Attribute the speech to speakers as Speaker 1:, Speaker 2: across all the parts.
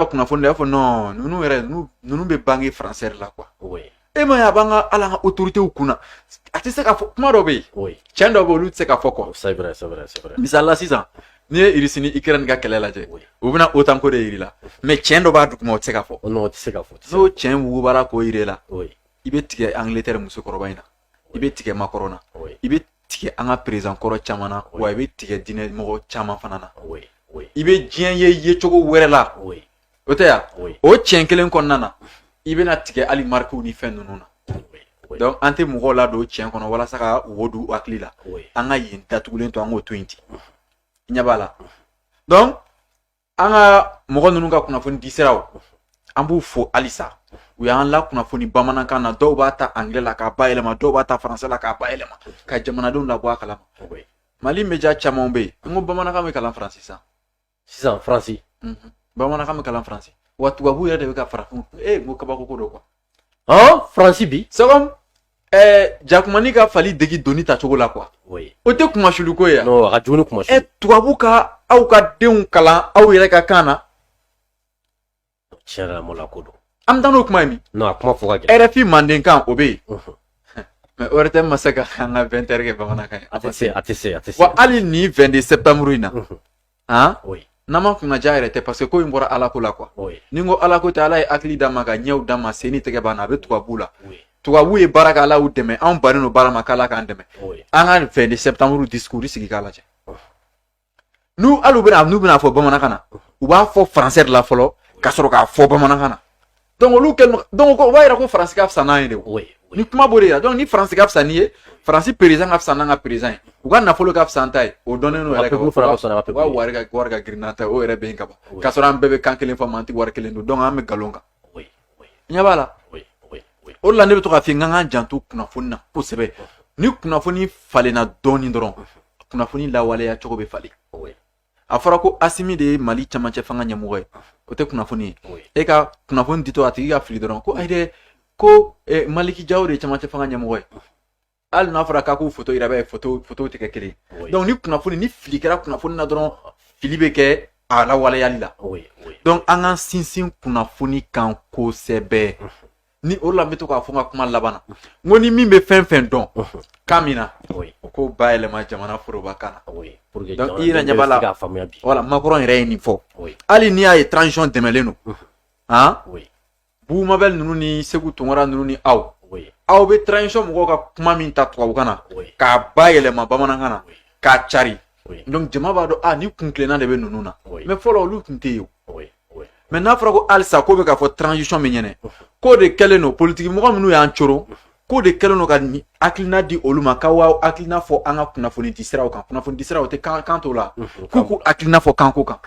Speaker 1: kunnafoni la i b'a fɔ non ninnu yɛrɛ ninnu bɛ bange français la quoi e ma ye
Speaker 2: a b'an
Speaker 1: ka ala ka autoritéw kunna a tɛ se ka fɔ kuma dɔ bɛ yen cɛn dɔ bɛ olu
Speaker 2: tɛ se ka
Speaker 1: fɔ
Speaker 2: quoi misali la
Speaker 1: sisan n'i ye irisi ni ikirɛni ka kɛlɛ lajɛ u bɛna OTAN ko de yir'i la mais cɛn dɔ b'a duguma o tɛ se ka fɔ n'o
Speaker 2: cɛn wugubara
Speaker 1: k'o yir'i la i bɛ tigɛ angilɛtɛri musokɔrɔba in na i bɛ tigɛ macron na i bɛ
Speaker 2: tigɛ an
Speaker 1: ka perezan kɔrɔ caman na wa i bɛ tigɛ diinɛ mɔgɔ caman fana na i bɛ
Speaker 2: diɲɛ ye
Speaker 1: yecogo wɛrɛ la o tɛ
Speaker 2: yan
Speaker 1: o cɛn kelen
Speaker 2: kɔnɔna
Speaker 1: na i bɛna tigɛ hali marikiw ni fɛn ninnu na
Speaker 2: donc an tɛ mɔgɔw
Speaker 1: ladon cɛn kɔnɔ walasa ka wo don hakili la an ka yen datugulen to an k'o to yen ten i ɲɛ b'a la donc an ka mɔgɔ ninnu ka kunnafoni di siraw an b'u fo halisa u y'an lakunnafoni bamanankan na dɔw b'a ta anglais la k'a bayɛlɛma dɔw b'a ta français la k'a bayɛlɛma ka jamanadenw labɔ a kalama mali média camanw bɛ yen n ko bamanankan bɛ kalan faransi sisan
Speaker 2: sisan faransi bamanankan
Speaker 1: bɛ kalan faransi wa tubabu yɛrɛ de bɛ ka farafin e ko kabako ko don quoi
Speaker 2: faransi bi c'est
Speaker 1: comme jakumanin ka fali dege doni tacogo la quoi o tɛ kunmasuuli ko ye a
Speaker 2: tubabu ka
Speaker 1: aw ka denw kalan aw yɛrɛ ka kan
Speaker 2: na ko don an bɛ taa n'o kuma
Speaker 1: ye min kuma fɔ
Speaker 2: RFI mandenkan o
Speaker 1: bɛ yen mais ORTM ma se ka an ka 20 heures kɛ bamanankan a tɛ se a tɛ se
Speaker 2: wa hali nin 22
Speaker 1: septembre in na han oui.
Speaker 2: n'an ma kunna
Speaker 1: ja yɛrɛ tɛ parce que ko in bɔra ala ko la quoi oui. ni n ko ala ko tɛ ala ye hakili d'a ma ka ɲɛw d'a ma sen ni tɛgɛ b'a na a bɛ tubabu la oui. tubabu ye baara kɛ ala y'u dɛmɛ anw bannen don baara ma k'ala k'an dɛmɛ oui. an ka 22 septembre discours sigi k'a lajɛ oh. n'u hali u bɛna n'u bɛna fɔ bamanankan na u b'a fɔ français de la fɔlɔ ka sɔrɔ k'a fɔ bamanankan na donc olu kɛlen donc o b'a yira ko faransi ka fisa n'an ye de o nin kuma b'o de yira donc ni faransi ka fisa n'i ye faransi perezan ka fisa n'an ka perezan ye u ka nafolo ka fisa an ta ye o dɔnnen don yɛrɛ u ka wari ka wari ka girin n'an ta ye o yɛrɛ bɛ yen ka ban k'a sɔrɔ an bɛɛ bɛ kan kelen fɔ mais an tɛ wari kelen dun donc an bɛ nkalon kan ɲɛ b'a la o de la ne bɛ to k'a f'i ye n k'an k'an janto kunnafoni na kosɛbɛ ni kunnafoni falenna dɔɔnin dɔrɔn kunnafoni lawaleya cogo bɛ falen a fɔra ko asimi de ye mali camancɛ fanga ɲɛmɔgɔ ye o tɛ kunnafoni ye e ka kunnafoni ditɔ a tigi ka fili dɔrɔn ko ayi dɛ ko eh, maliki jawo de ye camancɛ fanga ɲɛmɔgɔ ye hali n'a fɔra k'a k'u foto yira i b'a ye foto foto tɛ kɛ kelen ye donc ni kunnafoni ni fili kɛra kunnafoni na dɔrɔn fili bɛ kɛ a lawaleyali la donc an k'an sinsin kunnafoni kan kosɛbɛ ni o la n bɛ to k'a fɔ n ka kuma laban na n ko ni min bɛ fɛn fɛn dɔn kan min na o k'o bayɛlɛma jamana forobakan na i yɛrɛ ɲɛ b'a la voilà macron yɛrɛ ye nin fɔ hali n'i y'a ye transition dɛmɛlen don han bubu mabɛli ninnu ni seku tunkara ninnu ni aw aw bɛ transition mɔgɔw ka kuma min ta tubabukan na k'a bayɛlɛma bamanankan na k'a cari donc jama b'a dɔn ani kuntilenna de bɛ ninnu na mais fɔlɔ olu tun tɛ yen mɛ n'a fɔra ko halisa k'o bɛ k'a fɔ transition min ɲɛnɛ k'o de kɛlen don politikimɔgɔ minnu y'an coro k'o de kɛlen don ka hakilina di olu ma k'aw hakilina fɔ an ka kunnafoni di siraw kan kunnafoni di siraw tɛ kan kan t'o la k'u k'u hakilina fɔ kanko kan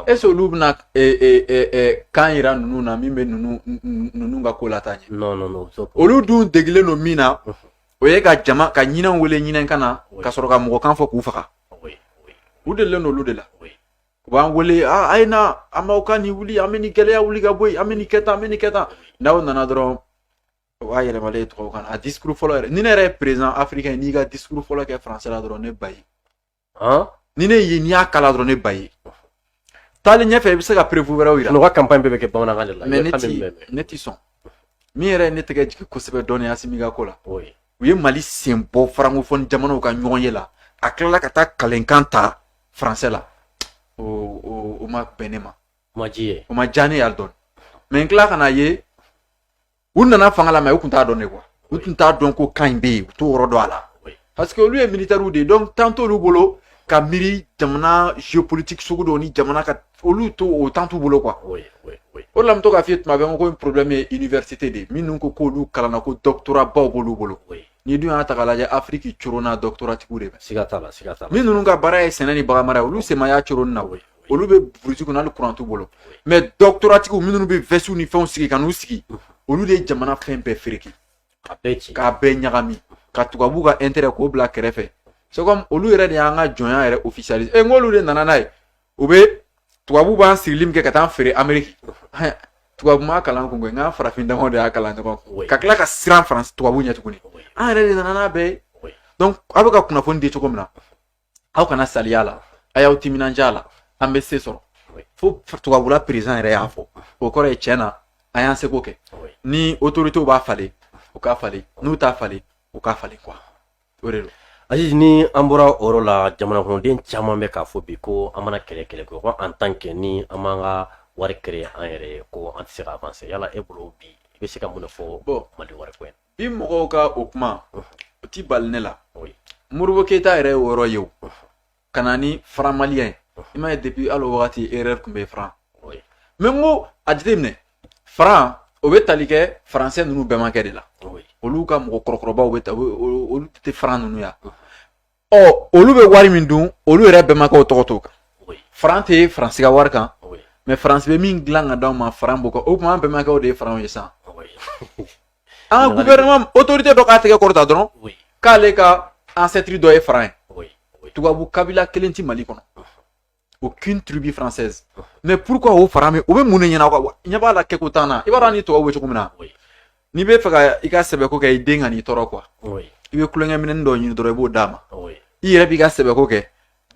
Speaker 1: est ce que olu bɛna kan yira ninnu na min bɛ ninnu ninnu ka ko lataa ɲɛ olu dun degilen don min na o ye ka jama ka ɲinɛw wele ɲinɛkan na ka sɔrɔ ka mɔgɔkan fɔ k'u faga u delilen don olu de la u b'an wele a a ye na an b'aw ka nin wuli an bɛ nin gɛlɛya wuli ka bɔ yen an bɛ nin kɛ tan an bɛ nin kɛ tan n'aw nana dɔrɔn o b'a yɛlɛmalen ye tubabukan na a disikuru fɔlɔ yɛrɛ ni ne yɛrɛ ye perezan afirikɛn n'i ka disikuru fɔlɔ kɛ faransɛ la dɔrɔn ne b'a ye ni ne ye n'i y'a kala dɔrɔn ne b'a ye taalen ɲɛfɛ i bɛ se ka perefu wɛrɛw yira u ka campagne bɛɛ bɛ kɛ bamanankan
Speaker 2: de la mɛ ne ti ne ti
Speaker 1: sɔn min yɛrɛ ye ne tɛgɛ jigin kosɛbɛ dɔɔnin asimi ka ko la u ye mali sen bɔ farankofɔn jamanaw ka ɲɔgɔn ye la a tilala ka taa kalenkan ta faransɛ la o ma bɛn ne ma o ma diya ne ye hali dɔɔnin mɛ n tila ka n'a ye u nana fanga la mɛ u tun t'a dɔn ne quoi u tun t'a dɔn ko kan in bɛ yen u t'o yɔrɔ dɔn a la parce que olu ye militɛriw de ye donc temps t'olu bolo ka miiri jamana géopolitique sugu dɔw ni jamana ka olu to o temps t'u bolo quoi oui, oui, oui. o la n bɛ to k'a f'i ye tuma bɛɛ n ko problème ye université de minnu ko k'olu kalanna ko doctorat baw b'olu bolo oui. n'i dun y'a ta k'a lajɛ afiriki coronna doctoratigiw de bɛ siga t'a la siga t'a la
Speaker 2: min ninnu ka
Speaker 1: baara ye sɛnɛ ni baganmara ye olu sen ma y'a coronni na oui. olu bɛ burusi kɔnɔ hali kuran t'u bolo mɛ dɔktoratigiw minnu bɛ vɛsiw ni fɛnw sigi ka n'u sigi olu de ye jamana fɛn bɛɛ fereke k'a bɛɛ ɲagami ka tubabu ka intérêt k'o bila kɛrɛfɛ c'est comme olu yɛrɛ de y'an ka jɔnya yɛrɛ officialiser e n'olu de nana n'a ye u bɛ tubabu b'an sirili min kɛ ka taa an feere Amérique tubabu m'a kalan kun koyi nka farafin damaw de y'a kalan ɲɔgɔn kun ka tila ka siran faransi tubabu ɲɛ tuguni an yɛrɛ de nana n'a bɛɛ ye donc aw bɛ ka kunnafoni di cogo min na aw kana saliya la a y'aw timinanja la an bɛ se sɔrɔ fo tubabula perezan yɛrɛ y'a fɔ o kɔrɔ ye tiɲɛ na an y'an seko kɛ ni otoritew b'a falen u k'a falen n'u t'a falen u k'a falen quoi o de don aziz ni
Speaker 2: an bɔra o yɔrɔ la jamanakɔnɔden caman bɛ k'a fɔ bi ko an mana kɛlɛ kɛlɛ ko en tant que ni an m'an ka wari créer an yɛrɛ ye ko an tɛ se ka avanse yala e bolo bi i bɛ se ka mun de fɔ mali wari ko in bi mɔgɔw ka
Speaker 1: o kuma o ti bali ne la modibo keyita yɛrɛ ye o yɔrɔ ye o ka na ni faran maliyɛn ye i m'a ye depuis hali o wagati erreur tun bɛ faran mɛ n ko a jateminɛ faran o bɛ tali kɛ faransɛ ninnu bɛmakɛ de la olu ka mɔgɔ kɔrɔkɔrɔbaw bɛ ta olu tɛ faran ninnu ya ɔ olu bɛ wari min dun olu yɛrɛ bɛnbakɛw tɔgɔ t'o kan faran tɛ faransi ka wari kan mɛ faransi bɛ min dilan ka d'anw ma faran b'o kan o tuma an bɛnbakɛw de ye faranw ye sisan an ka gouvernement autorité dɔ k'a tɛgɛ kɔrɔta dɔrɔn k'ale ka ancêtre dɔ ye faran ye tubabu kabila kelen ti mali kɔnɔ aucune tribu française oh. mais pourquoi o franc o bɛ mun de ɲɛna quoi ɲɛ b'a la kɛko t'an na i b'a dɔn ni tubabu bɛ cogo min na n'i bɛ fɛ ka i ka sɛbɛko kɛ i den ka n'i tɔɔrɔ quoi i bɛ kulonkɛ minɛn dɔ ɲini dɔrɔn i b'o d'a ma i yɛrɛ b'i ka sɛbɛko kɛ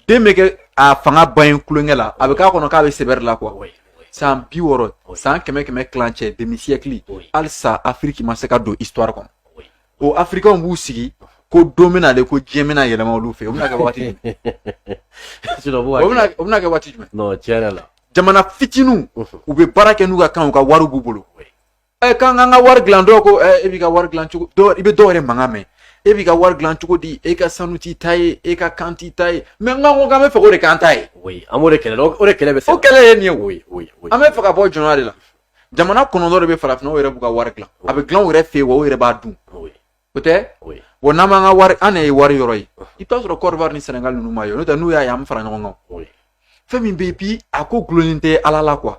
Speaker 1: den bɛ kɛ a fanga ban ye kulonkɛ la a bɛ k'a kɔnɔ k'a bɛ sɛbɛri la quoi san bi wɔɔrɔ san kɛmɛ kɛmɛ kilancɛ demi siècle halisa afiriki ma se ka don histoire kɔnɔ o afirikɛnw b'u sigi ko don bɛna ale ko diɲɛ bɛna yɛlɛma olu fɛ o bɛna kɛ waati jumɛn o bɛna kɛ waati jumɛn tiɲɛ yɛrɛ la
Speaker 2: jamana fitininw
Speaker 1: u bɛ baara kɛ n'u ka kan u ka wari b'u bolo ɛ k'an k'an ka wari dilan dɔw ko ɛ e b'i ka wari dilan cogo dɔw i bɛ dɔw yɛrɛ mankan mɛn e b'i ka wari dilan cogo di e ka sanu t'i ta ye e ka kan t'i ta ye mais n ko k'an bɛ fɛ o de k'an ta ye an b'o de kɛlɛ
Speaker 2: o de kɛlɛ bɛ se o kɛlɛ ye nin ye o ye
Speaker 1: an bɛ fɛ ka bɔ jɔnya de la jamana kɔnɔntɔn de bɛ farafinna yɛrɛ b'u ka wari dilan a bɛ dilan o yɛrɛ fɛ yen wa o yɛrɛ b'a dun o tɛ wa n'an b'an ka wari an de ye wari yɔrɔ ye i bɛ t'a sɔrɔ kɔdiwari ni sɛnɛgali ninnu ma ye n'o tɛ n'u y'a ye an bɛ fara ɲɔgɔn kan fɛn min bɛ yen bi a ko gulonnen tɛ ala la quoi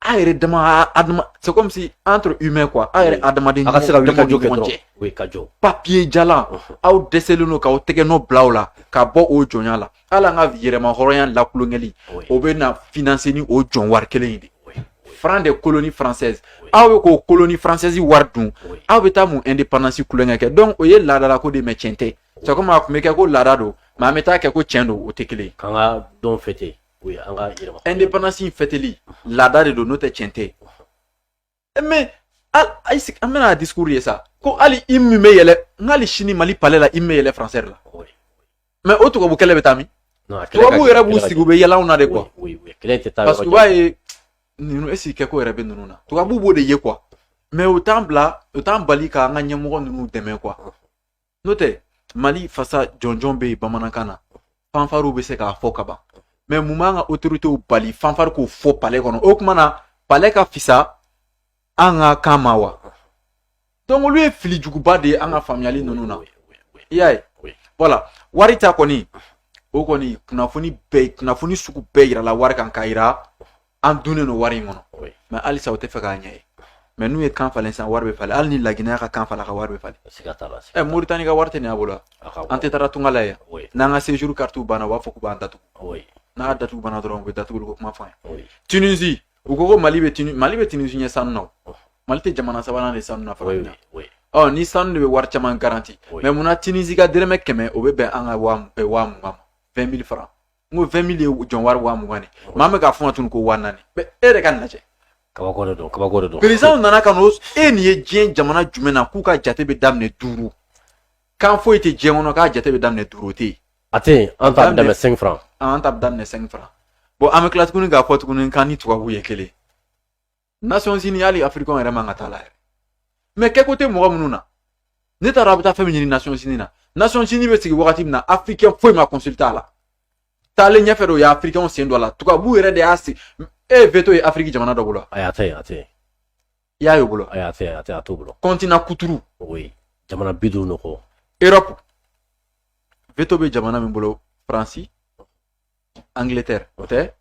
Speaker 1: an yɛrɛ dama adama c'est comme si entre humains quoi an yɛrɛ adamaden
Speaker 2: ɲɔgɔn cɛ ka jɔ papiye jalan
Speaker 1: aw dɛsɛlen don k'aw tɛgɛ nɔ bila o la ka bɔ o jɔnya la hali an ka yɛrɛma hɔrɔnya lakulonkɛli o bɛ na finanse ni o jɔn wari kelen in de franc des colonies françaises aw bɛ k'o colonie française wari dun aw bɛ taa mun indépendance kulonkɛ kɛ donc o ye laadala ko de mais tiɲɛ tɛ c'est comme a tun bɛ kɛ ko laada don mais an bɛ taa kɛ ko tiɲɛ don o tɛ kelen ye. k'an ka don fɛte
Speaker 2: o ye an ka yɛrɛma.
Speaker 1: indépendance in fɛteli laada de don n'o tɛ tiɲɛ tɛ. mais a y'i sigi an bɛna discours ye sa ko hali hymne bɛ yɛlɛn hali sini mali palais la hymne bɛ yɛlɛn français la mais o tubabu kɛlɛ bɛ taa min tubabu yɛrɛ b'u sigi u bɛ yɛlɛ anw na de quoi parce que u b'a ye ninnu est-ce que kɛko yɛrɛ bɛ ninnu na tubabu b'o de ye quoi mais u t'an bila u t'an bali k'an ka ɲɛmɔgɔ ninnu dɛmɛ quoi n'o tɛ mali fasa jɔnjɔn bɛ yen bamanankan na fanfariw bɛ se k'a fɔ ka ban mais mun b'an ka otoritew bali fanfari k'o fɔ palɛ kɔnɔ o kuma na palɛ ka fisa an ka kan ma wa donc olu ye fili juguba de ye an ka faamuyali ninnu na i y'a ye voilà wari ta kɔni o kɔni kunnafoni bɛɛ kunnafoni sugu bɛɛ yirala wari kan k'a yira an dunnen don wari in kɔnɔ mais halisa u tɛ fɛ k'a ɲɛ ye mais n'u ye kan falen sisan wari bɛ falen hali ni laginɛ ka kan falen ka wari bɛ falen ɛ moritani ka wari tɛ nin a bolo an tɛ taara tunga la yan n'an ka séjour carte banna u b'a fɔ k'u b'an datugu n'a datugu banna dɔrɔn u bɛ datuguli ko kuma fɔ an ye tunisie u ko ko mali bɛ tuni mali bɛ tunisie ɲɛ sanu na mali tɛ jamana sabanan de sanu na fɔlɔ na ɔ ni sanu de bɛ wari caman garanti mais munna tunisie ka dɛrɛmɛ kɛmɛ o bɛ bɛn an ka waa mugan ma 20 000 francs n ko vingt mille ye jɔn wari waa mugan de maa bɛ k'a fɔ ka tunu ko waa naani mais e yɛrɛ ka nin lajɛ kabako de don
Speaker 2: kabako de don perezanw nana ka n'o
Speaker 1: e nin ye diɲɛ jamana jumɛn na k'u ka jate bɛ daminɛ duuru kan foyi tɛ diɲɛ kɔnɔ k'a jate bɛ daminɛ duuru o tɛ yen a tɛ yen an ta
Speaker 2: bɛ daminɛ cinq franc an ta bɛ daminɛ cinq
Speaker 1: franc bon an bɛ tila tuguni k'a fɔ tuguni k'an ni tubabuw ye kelen Nations Unies hali afirikɛn yɛrɛ man ka t'a la yɛrɛ mais kɛko tɛ mɔgɔ minnu na ne taara a bɛ taa fɛn min ɲini Nations Unies na Nations Unies bɛ sigi wagati min na afirikɛn foyi ma consulter a la taalen ɲɛfɛ de o ye afirikɛnw sen don a la tubabuw yɛrɛ de y'a sigi e ye veto ye afiriki jamana dɔ bolo ayi a tɛ yen a tɛ
Speaker 2: yen i y'a
Speaker 1: ye o bolo ayi a tɛ yen a tɛ a t'o
Speaker 2: bolo continent kuturu
Speaker 1: o ye jamana
Speaker 2: bi duuru ɲɔgɔn erɔpu
Speaker 1: veto bɛ jamana min bolo faransi Angleterre o tɛ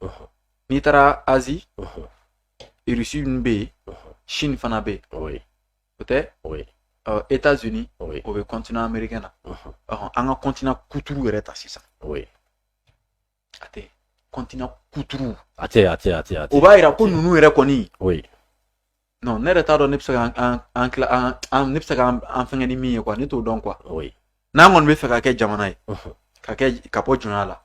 Speaker 1: n'i taara Asie Russie ninnu bɛ yen Chine fana bɛ yen o tɛ États-Unis o bɛ continent américain na an ka continent kuturu yɛrɛ ta sisan a tɛ continent kuturu a tɛ a tɛ a tɛ
Speaker 2: o b'a yira ko ninnu
Speaker 1: yɛrɛ kɔni non ne yɛrɛ t'a dɔn ne bɛ se ka an an tila an an ne bɛ se ka an fɛngɛ ni min ye quoi ne t'o dɔn quoi n'an kɔni b'a fɛ ka kɛ jamana ye ka kɛ ka bɔ jɔnya la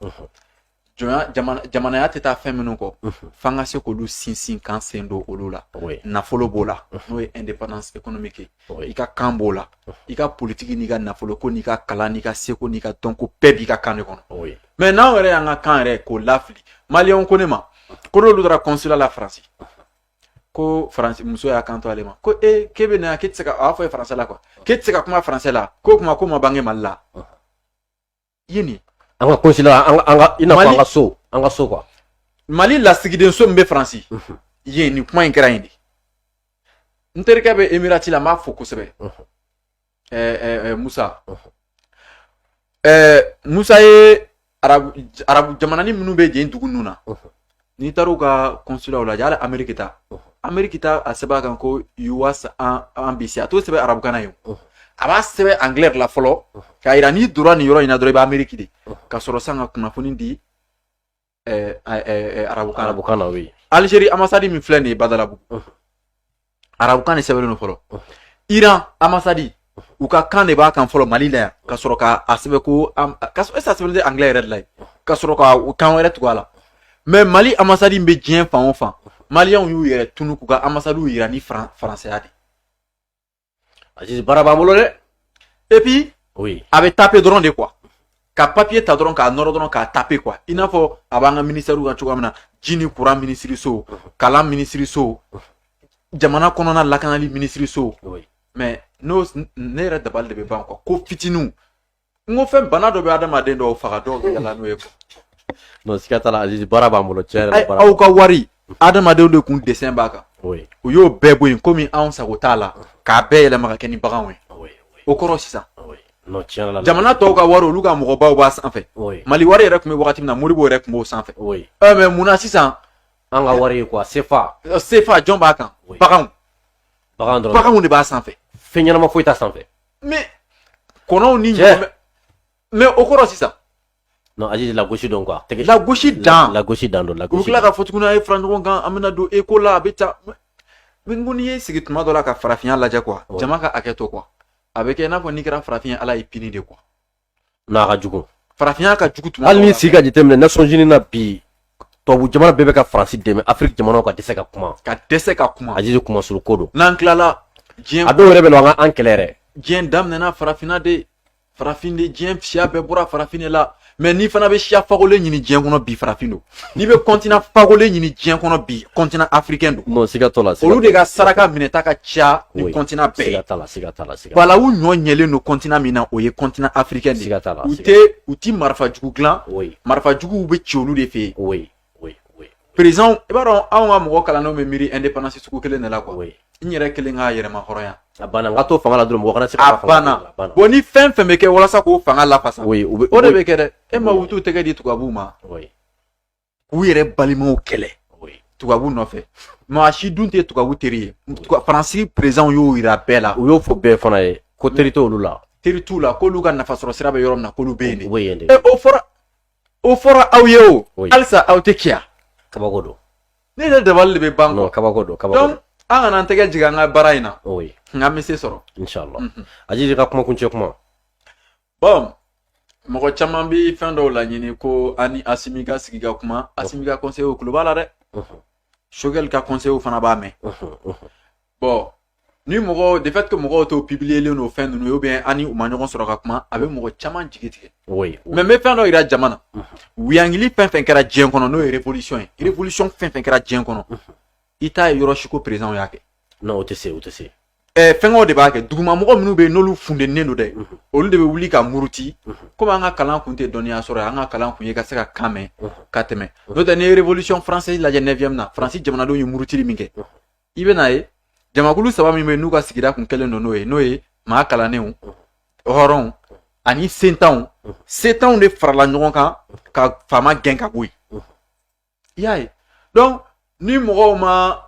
Speaker 1: jɔnya jamana jamanaya tɛ taa fɛn minnu kɔ f'an ka se k'olu sinsin k'an sen don olu la nafolo b'o la n'o ye indépendance économique ye i ka kan b'o la i ka politiki n'i ka nafolo ko n'i ka kalan n'i ka seko n'i ka dɔnko bɛɛ b'i ka kan de kɔnɔ mais n'anw yɛrɛ y'an ka kan yɛrɛ k'o lafili maliyɛnw ko ne ma ko n'olu taara consulat la faransi ko faransi muso y'a kanto ale ma ko e k'e bɛ na k'e tɛ se ka a y'a fɔ ye français la quoi k'e tɛ se ka kuma français la k'o kuma k'o ma bange mali la i ye nin an ka consulat an ka
Speaker 2: an ka i n'a fɔ an ka so an ka so quoi
Speaker 1: mali lasigidenso min bɛ faransi yen nin kuma in kɛra yen de n terikɛ bɛ emirati la n b'a fo kosɛbɛ musa musa ye arabu jamananin minnu bɛ yen dugu ninnu na n'i taara u ka kɔnsulaw lajɛ hali ameriki ta ameriki ta a sɛbɛn a kan ko US embassy a t'o sɛbɛn arabukan na yen a b'a sɛbɛn angilɛ la fɔlɔ k'a yira n'i donna nin yɔrɔ in na dɔrɔn i bɛ ameriki de ka sɔrɔ san ka kunnafoni di arabukan arabukan na yen
Speaker 2: Algérie ambassade
Speaker 1: min filɛ nin ye badalabugu arabukan de sɛbɛnlen don fɔlɔ iran ambassade u ka kan de b'a kan fɔlɔ mali la yan ka sɔrɔ k'a sɛbɛn ko ka sɔrɔ est-ce a sɛbɛn tɛ anglais yɛrɛ de la yen ka sɔrɔ ka kan wɛrɛ tugu a la mais mali ambassade bɛ diɲɛ fan o fan maliyɛnw y'u yɛrɛ tunu k'u ka ambassadew yira ni faransɛya de
Speaker 2: Aziz baara b'an bolo dɛ et
Speaker 1: puis oui a bɛ
Speaker 2: taper dɔrɔn
Speaker 1: de quoi ka papier ta dɔrɔn k'a nɔrɔ dɔrɔn k'a taper quoi i n'a fɔ a b'an ka ministɛriw kan cogoya min na ji ni courant minisiriso kalan minisiriso jamana kɔnɔna lakanali minisiriso mais non ne yɛrɛ dabali de bɛ ban quoi ko fitininw n ko fɛn bana dɔ bɛ adamaden dɔw faga dɔw bɛ yala n'o ye quoi non siga
Speaker 2: t'a la Azizi baara b'an bolo tiɲɛ yɛrɛ la baara aw ka
Speaker 1: wari adamadenw de kun dessin b'a kan oui u y'o bɛɛ bɔ yen komi anw sago t'a la k'a bɛɛ yɛlɛma ka kɛ ni baganw ye oui oui o kɔrɔ sisan oui non tiɲɛ yɛrɛ la jamana tɔw ka wari olu ka mɔgɔbaw b'a sanfɛ oui Mali wari yɛrɛ tun bɛ wagati min na Modibo yɛrɛ tun b'o sanfɛ oui ɛ mais mun na sisan an ka wari ye
Speaker 2: quoi CFA ɛ, sefa jɔn b'a kan
Speaker 1: Oui. baganw bagan dɔrɔn baganw de b'a sanfɛ fɛn ɲɛnama foyi t'a
Speaker 2: sanfɛ
Speaker 1: mais kɔnɔw ni ɲɔgɔn mais o kɔrɔ sisan non Azizi
Speaker 2: lagosi dɔn quoi tɛgɛ lagosi dan
Speaker 1: lagosi dan don lagosi u tila
Speaker 2: ka fɔ tuguni a
Speaker 1: ye fara ɲɔgɔn kan an bɛna don eko la a bɛ taa mais n ko n'i ye sigi tuma dɔ la ka farafinya lajɛ quoi jama ka hakɛ to quoi a bɛ kɛ i n'a fɔ n'i kɛra farafin ye ala y'i punir de quoi N'a
Speaker 2: ka jugu farafinya ka
Speaker 1: jugu hali n'i sigi ka jateminɛ
Speaker 2: Nations Unies na bi tubabu jamana bɛɛ bɛ ka Faransi dɛmɛ Afrique jamana ka dɛsɛ ka kuma ka dɛsɛ ka kuma Azizi kuma suru ko don n'an
Speaker 1: tilala diɲɛ a dɔw yɛrɛ bɛ
Speaker 2: an kɛlɛ diɲɛ
Speaker 1: daminɛna farafinna de farafin de diɲɛ siya bɛɛ bɔra farafin la mais n'i fana bɛ siya fagolen ɲini diɲɛ kɔnɔ bi farafin don n'i bɛ continent fagolen ɲini diɲɛ kɔnɔ bi continent africain don non siga t'o la olu de
Speaker 2: ka
Speaker 1: saraka minɛta ka ca ni continent bɛɛ siga t'a la siga t'a la siga balawu
Speaker 2: ɲɔ ɲɛlen
Speaker 1: don continent min na o ye continent africain de siga t'a la u tɛ u ti marifa jugu dilan marifa juguw bɛ ci olu de fɛ yen par exemple i b'a dɔn anw ka mɔgɔ kalannenw bɛ miiri indépendance sugu kelen de la quoi n yɛrɛ kelen ka yɛrɛmahɔrɔnya a banna n ka to
Speaker 2: fanga la dɔrɔn mɔgɔ kana se a banna bon
Speaker 1: ni fɛn fɛn bɛ kɛ walasa k'o fanga lafasa o de bɛ kɛ dɛ e maaw t'u tɛgɛ di tubabuw ma k'u yɛrɛ balimaw kɛlɛ tubabu nɔfɛ maa si dun tɛ tubabu teri ye Faransi présidentw y'o yira bɛɛ la u y'o fɔ bɛɛ fana ye
Speaker 2: ko teri t'olu la teri t'u la k'olu ka
Speaker 1: nafasɔrɔ sira bɛ yɔrɔ min na k'olu bɛ yen de o fɔra o fɔra aw ye o halisa aw tɛ kiya kabako
Speaker 2: don ne yɛrɛ dabali
Speaker 1: de bɛ ban kɔ kabako don kabako don
Speaker 2: an kana an
Speaker 1: tɛgɛ jigin an ka baara in na nk'an bɛ se sɔrɔ inshallah mhm.
Speaker 2: Azizi ka kuma kuncɛ kuma
Speaker 1: bon mɔgɔ caman bɛ fɛn dɔw laɲini ko ani Asimi ka sigi ka kuma Asimi ka conseillerw tulo b'a la dɛ mhm. Choguel ka conseillerw fana b'a mɛn mhm, bon ni mɔgɔ de fait que mɔgɔw t'o publierlen o fɛn ninnu ye ou bien ani u ma ɲɔgɔn sɔrɔ ka kuma a bɛ mɔgɔ caman jigi tigɛ mais n bɛ fɛn dɔ jira jama na wuyangili fɛn fɛn kɛra diɲɛ kɔnɔ n'o ye révolution ye révolution fɛn fɛn kɛra diɲɛ kɔnɔ i t'a ye yɔrɔ si ko président y'a kɛ o tɛ se o tɛ
Speaker 2: se Eh, fɛnkɛw de
Speaker 1: b'a kɛ dugumamɔgɔ minnu bɛ yen n'olu fundennen don dɛ mhm. olu de bɛ wuli ka muruti mhm. komi an ka kalan kun tɛ dɔnniya sɔrɔ an ka kalan kun ye ka se ka kan mɛn mhm. ka tɛmɛ n'o tɛ n'i ye révolution française lajɛ 9e na Faransi jamanadenw ye murutili min kɛ i bɛ n'a ye jamakulu saba min bɛ yen n'u ka sigida kun kelen don n'o ye n'o ye maa kalannenw hɔrɔnw ani sentanw sentanw de farala ɲɔgɔn kan ka faama gɛn ka bɔ yen i y'a ye donc ni mɔgɔw ma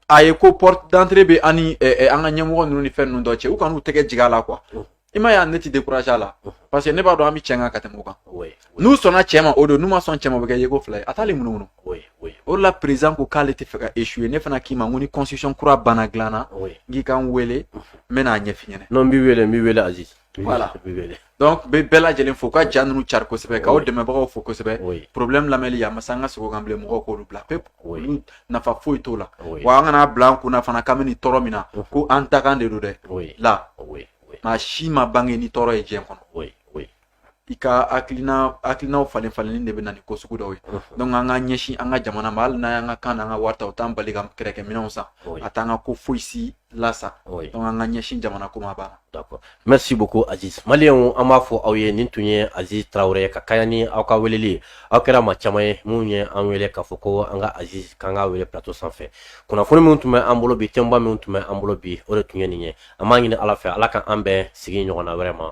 Speaker 1: a ye ko porte d'entrée bɛ an ni an ka ɲɛmɔgɔ ninnu ni fɛn ninnu dɔ cɛ u kan'u tɛgɛ jigin a la quoi i m'a ye ne ti découragé a la parce que ne b'a dɔn an bɛ cɛn kan ka tɛmɛ o kan n'u sɔnna cɛn ma o don n'u ma sɔn cɛn ma o bɛ kɛ yeko fila ye a t'ale munumunu o de la président ko k'ale tɛ fɛ ka échouer ne fana k'i ma ko ni constitution kura banna dilan na n k'i ka n wele
Speaker 2: n
Speaker 1: bɛ n'a ɲɛf'i
Speaker 2: ɲɛna. non
Speaker 1: n b'i wele n b'i
Speaker 2: wele
Speaker 1: Aziz. voilà donc n bɛ bɛɛ lajɛlen fo ka ja ninnu cari kosɛbɛ k'aw dɛmɛbagaw fo kosɛbɛ problème lamɛnli a ma se an ka sigi o kan bilen mɔgɔw k'olu bila pewu nafa foyi t'o la wa an kan'a bila an kun na fana k'an bɛ nin tɔɔrɔ min na ko an dakan de don dɛ la maa si ma bange ni tɔɔrɔ ye diɲɛ kɔnɔ i ka hakilina hakilinaw falenfalenni de bɛ na ni ko sugu dɔw ye donc an ka ɲɛsin an ka jamana ma hali n'an y'an ka kan n'an ka wari ta o t'an bali ka kɛrɛkɛminɛnw san a t'an ka ko foyi si lasa oui. donc an ka ɲɛsin jamana ko ma a banna d'accord
Speaker 2: merci beaucoup aziz maliyɛnw an b'a fɔ aw ye nin tun ye aziz traoré ka kɛɲɛ ni aw ka weleli aw kɛra maa caman ye minnu ye an wele k'a fɔ ko an ka aziz k'an ka wele plateau sanfɛ kunnafoni minnu tun bɛ an bolo bi thèmeba minnu tun bɛ an bolo bi o de tun ye nin ye an b'a ɲini ala fɛ ala ka an bɛn sigi ɲɔgɔnna wɛrɛ ma